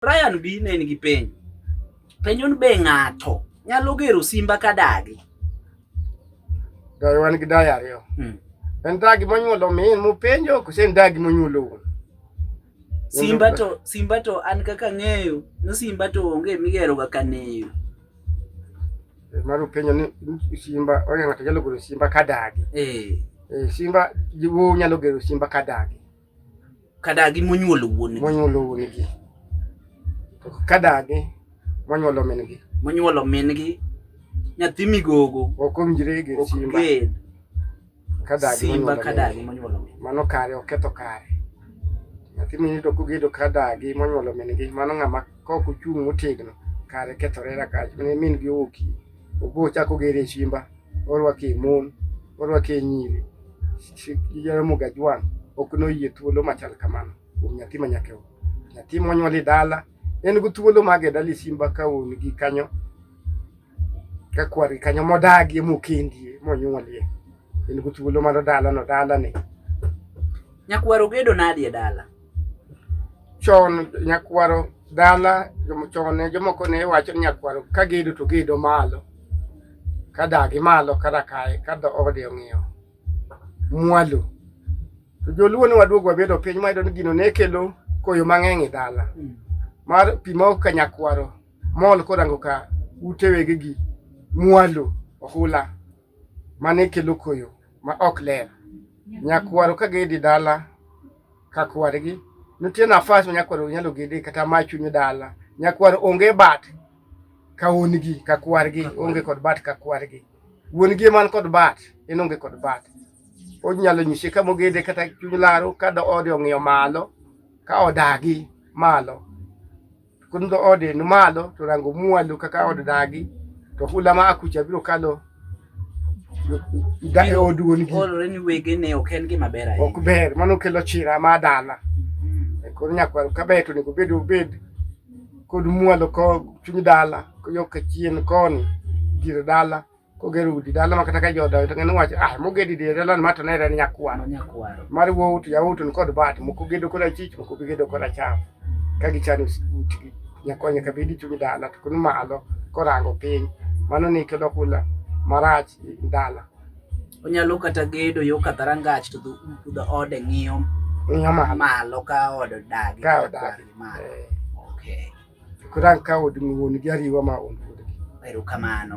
Brian B ne nigi penjo. Penjo ni be ng'ato nyalo gero simba ka dagi? Dagi wan gi dagi ariyo. Hmm. En dagi monyuolo min mupenjo kose en dagi monyuolo wuon? Simba to simba to an kaka ng'eyo ni simba to onge migero ga kaneyo. Eh, Maro penjo ni simba oya ng'ato nyalo gero simba ka dagi. Eh. eh simba jiwo nyalo gero simba ka dagi. Kadagi monyuolo wuongi. Monyuolo wuongi. Kadagi monyuolo min-gi. Monyuolo min-gi. Nyathi migogo. Ok owinjre gi simba. Kadagi simba kadagi monyuolo min. Mano kare oketho kare. Nyathi mini to kogedo kadagi monyuolo min-gi mano ng'ama kok ochung' motegno kare kethore rakaji. Min-gi oki. Ogo chako gere shimba, orwake mon, orwake nyiri. Jaramogi Ajwang' ok noyie thuolo machal kamano kuom nyathi ma nyake o. Nyathi monyuol e dala en gi thuolo mage e dala Simba ka wuon gi kanyo ka kwar kanyo modagie mokendie monyuolie en gi thuolo mar dala no dala ni. Nyakwar ogedo nadi e dala? chon nyakwaro dala chon ne jomoko ne wacho ni nyakwaro ka gedo to gedo malo ka dagi malo kata kae ka ode ong'iyo mwalo to joluo ne waduogo wabedo piny mayudo ni gino ne kelo koyo mang'eny e dala hmm. mar pi ma ok ka nyakwaro mol korango ka utewegi gi mwalo ohula mane kelo koyo ma ok ler. Nyakwaro ka gedi dala ka kwargi, nitie nafas ma nyakwaro nyalo gede kata ma chunyo dala. Nyakwaro onge bat ka wuon gi ka kwargi, onge kod bat ka kwargi. Wuon gi man kod bat, en onge kod bat. Onyalo nyise ka mogede kata chuny laro ka ode ong'iyo malo ka odagi malo. Kudho ode ni malo to rango mwalo kaka od dagi to hula ma akucha biro kalo da e od wuon gi. Olore ni wege ne ok en gima ber ahinya. Ok ber, mano kelo chira ma dala. Mm-hmm. E koro nyakwaro ka ber to nego bed obed kod mwalo ko chuny dala ko yo ka chien koni dire dala. kogero udi dala makata ka jodayo to ng'e nowach ah mogedi di dala ma to ne en nyakwaro mar wuowu to yawuowu to kod bat moko gedo kod achich moko gedo kod acham ka gichano utgi nyakonya ka bedi chung' dala to kun malo korango piny mano ni kelo kula marach dala onyalo kata gedo yo ka rangach to dho ode ng'iyo ng'iyo malo ka od dagi ka od dagi eh. okay kurang ka od ng'uon gi ariwa ma on erokamano